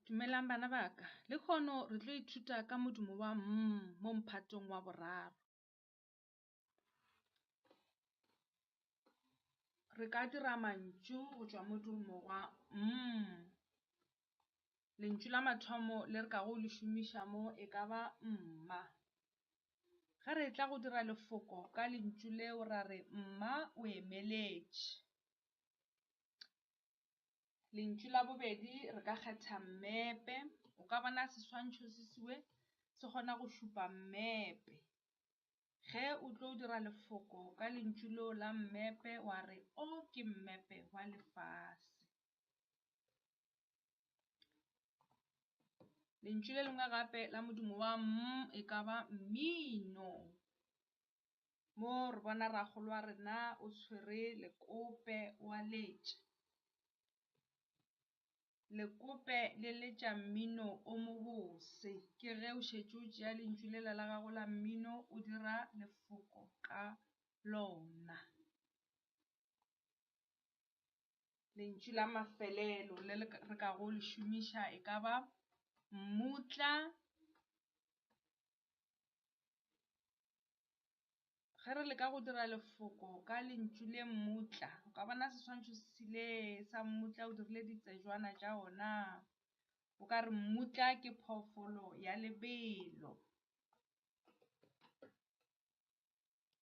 Dumelang bana ba ka. Le kgono re tlo ithuta ka modumo wa mm mo mphatong wa boraro. Re ka dira mantšu go tšwa modumo wa mm. Lentšu la mathomo le re ka go le šomiša mo e ka ba mma. Ge re tla go dira lefoko ka lentšu leo ra re mma o emeletše. Lentšu la bobedi re ka kgetha mmepe. O ka bona seswantšho se siwe se kgona go šupa mmepe. Ge o tlo dira lefoko ka lentšu leo la mmepe wa re o ke mmepe wa lefase. Lentšu le lengwe gape la modumo wa m e ka ba mmino. mo re bona ragolo wa rena o tshwere lekope wa letša. Lekope le letša mmino o mobose ke ge o šetše o tšea lentšu lela la gago la mmino o dira lefoko ka lona. Lentšu la mafelelo le re ka go le šomiša e ka ba mmutla Ge re leka go dira lefoko ka lentšu le mmutla, o ka bona seswantšho se sele sa mmutla o dirile ditsejwana tša ona. O ka re mmutla ke phoofolo ya lebelo.